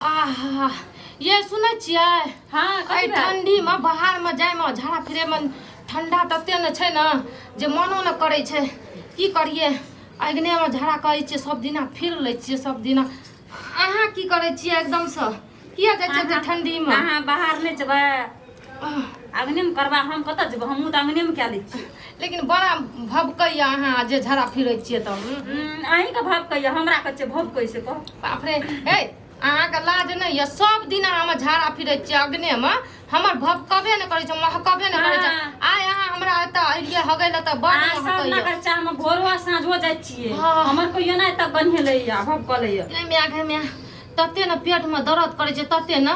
आहा ये सुनै छियै हाँ एहि कथी भेल? ठंडीमे बाहरमे जाइमे झाड़ा फिरैमे ठंडा तते ने छै ने जे मनो ने करै छै की करियै अग्नेमे झाड़ा करै छियै सब दिना फिर लै छियै सब दिना अहाँ की करै छियै एकदमसँ किया जाइ छियै एते ठंडीमे अहाँ बाहर नहि जेबै आंगने में करबा हम कत जेब हमहूँ तऽ आंगने में कए लै छी लेकिन बड़ा भबकैया अहाँ जे झड़ा फिरै छियै तऽ हम्म, अहीं के भब कहिया हमरा कच्चे भब कैसे कह बाप रे हे अहाँके लाज नहि यऽ सब दिन अहाँ हमर झाड़ा फिरै छियै अग्ने मे हमर भबकबे नहि करै छै महकबे नहि करै छै हाँ। आइ अहाँ हमरा एतऽ एलियै हगै लए तऽ बड़ आ सब महकैया नगर चाह में भोरो आ साँझो जाइ छियै हाँ। हमर कहियो नहि तब बन्हे लैया भब कलैया नहि माय गे माय तते ने पेट मे दर्द करै छै तते ने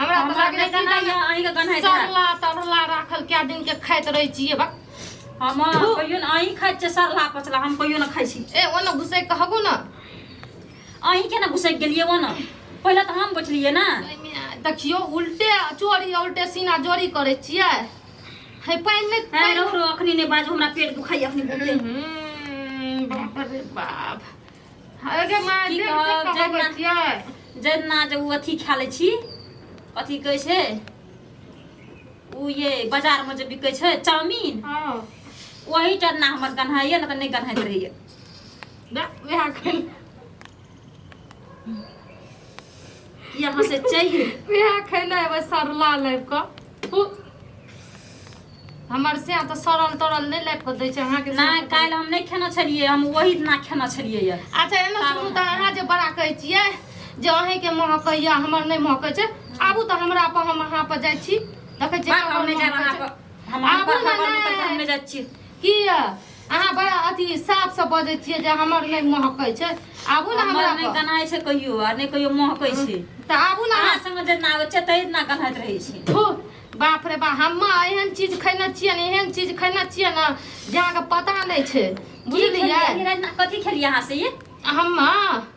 हमरा तऽ हमरा लागैए नहि गन्हाइए, सीधा अहींके गन्हाइत हैत। सरला तरला राखल कए दिन के खाइत रहै छियै बक हम कहियो ने अहीं खाइ छियै सरला पचला हम कहियो ने खाइ छी ए ओने घुसै कहबू ने अहीं केना घुसैक गेलियै वो ने पहिले तऽ हम बैठलियै ने एहिमे देखियो उल्टे चोरी आ उल्टे सीना जोरी करै छियै हे पानि नहि है पानि- रहो रहो अखनी नहि बाजू हमरा पेट दुखाइए अखनी बहुते हम्म, बाप रे बाप अरे माँ की जे कहब, कहब जगना। बच्चिया जहिना जे ओ अथी खा लै छी अथी कहै छै ओ ये बाजारमे जे बिकै छै चाउमीन हां ओही टरना हमर गन्हाइए ने तऽ नहि गन्हाइत रहैए ना वहाँ खेल यहाँ से चाहिए वएह खैले एबै सरला लाबि कऽ हु। हमर से तऽ सड़ल तड़ल नहि लाबि कऽ दै छै अहाँके नहि काल्हि हम नहि खेने छलियै हम ओही दिना खेने छलियै यऽ अच्छा एना सुनू तऽ अहाँ जे बड़ा कहै छियै जे अहींके महकैया हमर नहि महकै छै आबू तऽ हमरा पर हम अहाँ पर जाइ छी देखै छियै बात हम नहि जायब अहाँ पर हम आबू अहाँ पर ने, खबर नहि करब, हम नहि। नहि जाइ छियै की य अहाँ बड़ा अथी साफ से बजै छियै जे हमर नहि महकै छै आबू ने हमरा नहि गनाइ छै कहियो आ नहि कहियो महकै छै तऽ आबू ने अहाँ संग जेना आबै छै तहि दिना गन्हाइत रहै छै थू बाप रे बा हम एहन चीज खैने छियै ने एहन चीज खैने छियै ने जे अहाँके पता नहि छै बुझलियै कथी खेलियै अहाँ से हम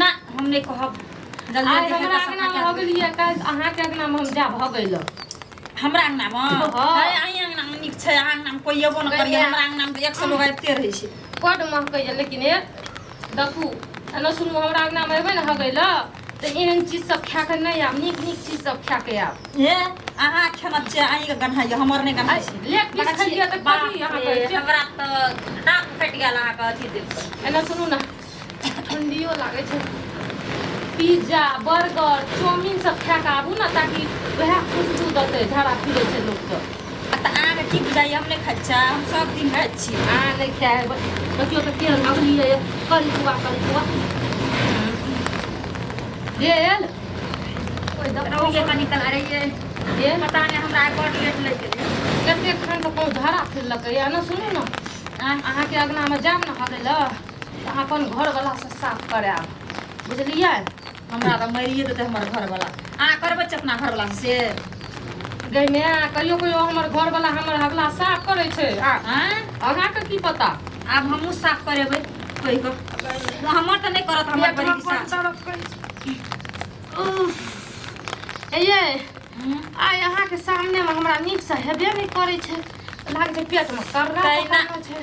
ना हम नहीं कहब जल्दी आज जल्दी हमरा से अंगना में हो गेल ये काज अहाँ के अंगना में हम जा भ गेल हमरा अंगना में हाँ। अरे अहीं अंगना में नीक छै अहाँ अंगना में कोई एबो न करिए कहिया? हमरा अंगना में तऽ एक सौ लोग आबिते रहै छै बड महकै ये लेकिन ए देखू एना सुनू हमरा अंगना में एबै ने हो गेल त एहन चीज सब खा के नहीं आब नीक नीक चीज सब खा के आब ए अहाँ खेना छै अहीं के गन्हा यऽ हमर नहि गन्हा छै लेट पीस खलिए त बाप कभी अहाँ रे, कहै छियै हमरा तऽ दाँत फटि गेल अहाँके अथी देख कऽ। एना सुनू ना ठण्डियो लागै छै पिज्जा बर्गर चाउमिन सब खा कऽ आबू ने ताकि वएह खुशबू देतै झाड़ा फिरै छै लोकके आ तऽ अहाँके की बुझाइए हम नहि खाइ छियै हम सब दिन खाइ छी अहाँ नहि खाए हेबै देखियौ तऽ केहन लगली यऽ करी कुआ करी कुआ गेल कोइ दौड़िए कऽ निकल अरे ये गेल पता नहि हमरा आइ बड़ लेट लागि गेलै कतेक खान तऽ कोइ झाड़ा फिरलकै यऽ ने सुनू ने आँय, अहाँके अङ्गनामे जायब ने हगै लए तऽ अपन घरवला से साफ करायब बुझलियै हमरा तऽ मारिए देतै हमर घरवला अहाँ करबै छै अपना घरवला से गई माय कहियो कहियो हमर घरवला हमर हवला साफ करै छै आ आँय? अहाँके की पता आब हमहूँ साफ करेबै कहि कऽ हमर तऽ नहि करत हमर बड़ी साफ उफ। ए ये हम्म। आइ अहाँके सामने मे हमरा नीक से हेबे नहि करै छै लागै छै पेट मे कर्रा तहिना। पकड़ल छै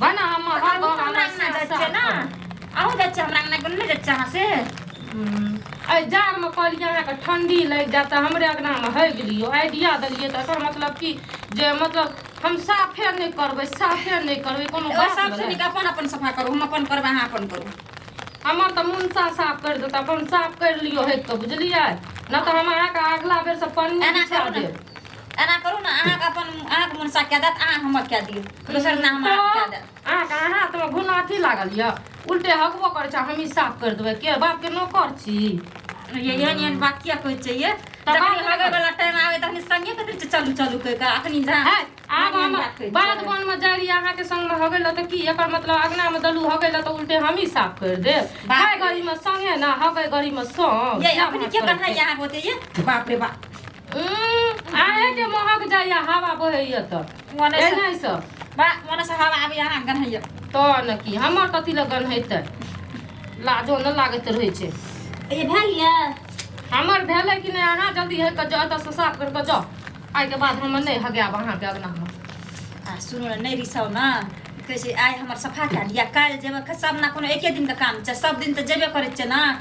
बना हम हर अहाँ बार हमरा हमरा अंगना जाय छियै ना अहूँ जाय छियै हमरा अंगना कोन नहि जाय छियै अहाँ से एहि जाड़मे कहलियै अहाँके ठंडी लागि जायत तऽ हमरे अगनामे होइ गेलियो आइडिया देलियै तऽ एकर मतलब की जे मतलब हम साफे नहि करबै साफे नहि करबै कोनो ओ बात सब भेलै? सुनिक अपन अपन सफा करू हम अपन करबै अहाँ अपन करू हमर तऽ मुनसा साफ करि देत अपन साफ करि लियो हेत तऽ बुझलियै नहि तऽ हम अहाँके अगला बेर से पन्नी एना बिछा करू ने। देब एना करू ने अहाँके अपन अहाँके मोन सा कए देत अहाँ हमर कए दियौ दोसर ना हम हाथ कए देब अहाँ के हाथ में घुना अथी लागल यऽ उल्टे हकबो करै छै हमही साफ कर देबै के बाप के नौकर छी ये एहन एहन बात किया कहै छै ये तऽ जखन बात हगै नहि वाला टाइम आवे तखन संगे कथि छै चलू चलू कहि कऽ अखनी जा है आब हम बाध वन में जाइ रही अहाँ के संग में हगै लए तऽ की एकर मतलब अगना में दलू हगै लए तऽ उल्टे हमही साफ कर देब बाप हगै रे। गड़ी में संगे ना हगै गड़ी में संग ये अपने के कन्हा यहाँ होते ये बाप रे बाप आए के महक जाइया हवा बहैया त मने से एना से बा मने से हवा आबे अहाँ गन हैया तो न की हमर कथी लगन हेतै लाजो न लागैत रहै छै ये भा लिया हमर भेलै कि नहि अहाँ जल्दी है के जाउ तऽ साफ कर के जाउ आइ के बाद हम नहि हगाब अहाँ के अंगना में आ सुनो न नहीं रिसाओ ना कैसे आए हमर सफा कर लिया काल जेबे के सब ना कोनो एके दिन के काम छै सब दिन त जेबे करे छै ना